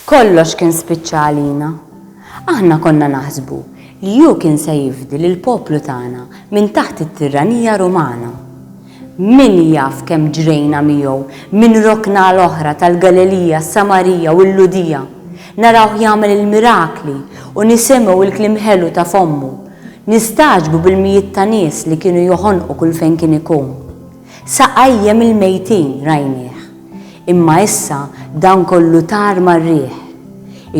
Kollox kien spiċċa għalina. Aħna konna naħsbu li hu kien se jifdi lill-poplu tagħna minn taħt it-tirranija Rumana. Min jaf kemm ġrejna miegħu minn rokna għal oħra tal-Galilija, s-Samarija u l-Lhudija, narawh jagħmel il-mirakli u nisimgħu l-kliem ħelu ta' fommu, nistagħġbu bil-mijiet ta' nies li kienu joħonqu kull fejn kien ikun. Sa qajjem il-mejtin, rajnieh. Imma issa dan kollu tar mar-riħ.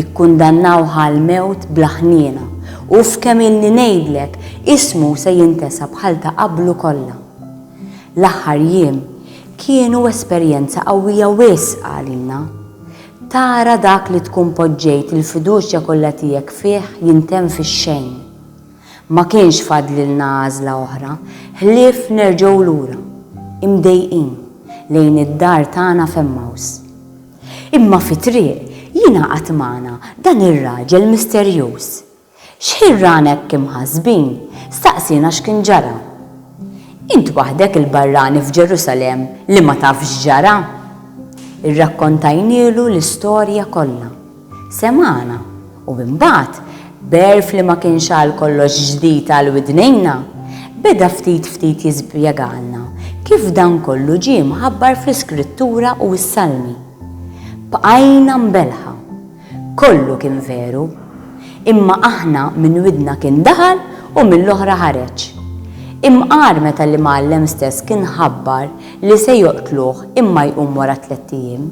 Ikkundannawh għall-mewt bla ħniena, u f'kemm ilni ngħidlek, ismu se jintesa bħal ta' qablu kollha. L-aħħar jiem kienu esperjenza qawwija wisq għalina. Tara dak li tkun poġġejt il-fiduċja kollha tiegħek fih jintemm fix-xejn. Ma kienx fadlilna għażla oħra ħlief nerġgħu lura, imdejqin, lejn id-dar tagħna f'Emmaws. Imma fit-triq jingħaqad magħna dan ir-raġel misterjuż. X'ħin rana hekk imħassbin, staqsiena x'kien ġara. Int waħdek il-barrani f'Ġerusalemm li ma tafx x'ġara? Irrakkontajnielu l-istorja kollha. Semgħana, u imbagħad, b'għerf li ma kienx għalkollox ġdid għal widnejna, beda ftit ftit jispjegalna kif dan kollu ġie mħabbar fl-Iskrittura u s-Salmi. Bqajna mbelħa. Kollu kien veru. Imma aħna minn widna kien daħal u mill-oħra ħareġ. Imqar meta l-Imgħallem stess kien ħabbar li se joqtluh imma jqum wara tlett ijiem.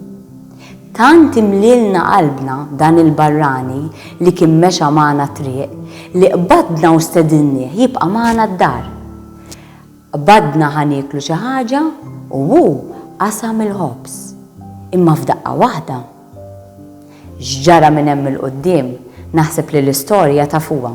Tant imlielna qalbna dan il-barrani li kien mexa magħna t-triq li qbadna u stedinnieh jibqa' magħna d-dar. Qbadna ħa nieklu xi ħaġa u hu qasam il-ħobż. Imma f'daqqa waħda. X'ġara minn hemm 'il quddiem naħseb li l-istorja tafuha.